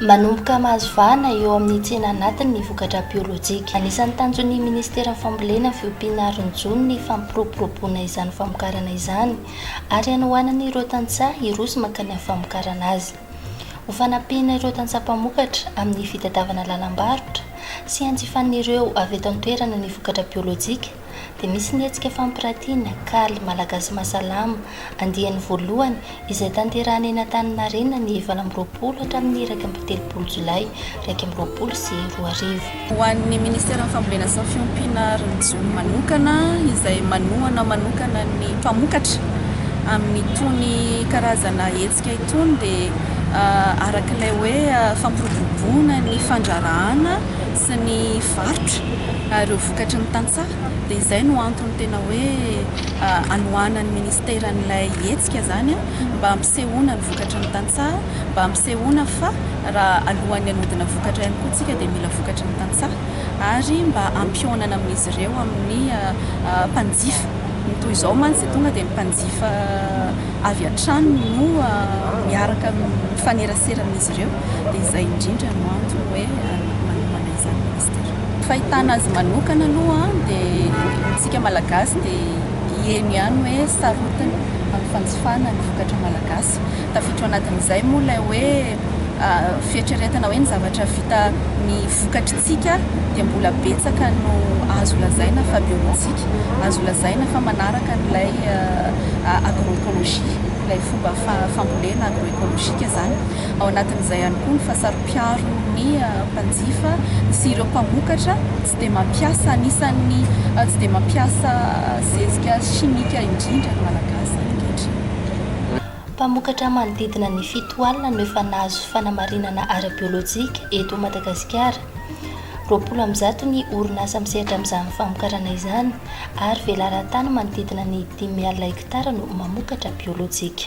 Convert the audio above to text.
Manomboka mahazo vahana eo amin'ny tsena anatiny ny vokatra biolojika. Anisan'ny tanjon'ny Ministeran'ny Fambolena fiompiana Aron'ny Jono ny fampiroboroboana izany famokarana izany ary hanohanana ireo tantsaha hiroso mankany amin'ny famokarana azy. Ho fanampiana ireo tantsaha mpamokatra amin'ny fitadiavana lalam-barotra sy hanjifan'ireo avy eto an-toerana ny vokatra biolojika, dia misy ny hetsika fampiratiana, Kali, Malagasy Mahasalama, andiany voalohany, izay tanterahina eny Antaninarenina ny valo amby roapolo hatramin'ny iraika amby telopolo Jolay iraika amby roapolo sy roa arivo. Ho an'ny Ministeran'ny Fambolena sy ny Fiompiana ary ny Jono manokana, izay manohana manokana ny mpamokatra amin'itony karazana hetsika itony, dia arak'ilay hoe fampiroboroboana ny fandrarahana sy ny varotra ary ireo vokatry ny tantsaha dia izay no antony tena hoe anohanan'ny ministera an'ilay hetsika izany mba hampisehoana ny vokatry ny tantsaha mba hampisehoana fa raha alohan'ny hanodina vokatra ihany koa tsika dia mila vokatry ny tantsaha ary mba hampihaonana amin'izy ireo amin'ny mpanjifa ny toy izao mantsy dia tonga dia ny mpanjifa avy hatrany no miaraka mifanerasera amin'izy ireo dia izay indrindra no antony hoe manomana izany Mister. Fahitana azy manokana aloha dia isika malagasy dia hieno ihany hoe sarotiny amin'ny fanjifana ny vokatra malagasy. Tafiditra ao anatin'izay moa ilay hoe fieritreretana hoe ny zavatra vita ny vokatr'isika dia mbola betsaka no azo lazaina fa bio antsika, azo lazaina fa manaraka an'ilay agroecologie, ilay fomba fambolena agroekolojika izany. Ao anatin'izay ihany koa ny fahasaropiaro ny mpanjifa sy ireo mpamokatra tsy dia mampiasa, anisan'ny tsy dia mampiasa zezika simika indrindra ny Malagasy ankehitriny. Mpamokatra manodidina ny fito alina no efa nahazo fanamarinana ara-biolojika eto Madagasikara. Roapolo amin'ny zato ny orinasa misehatra amin'izany famokarana izany. ary velaran-tany manodidina ny dimy alina hektara no mamokatra biolojika.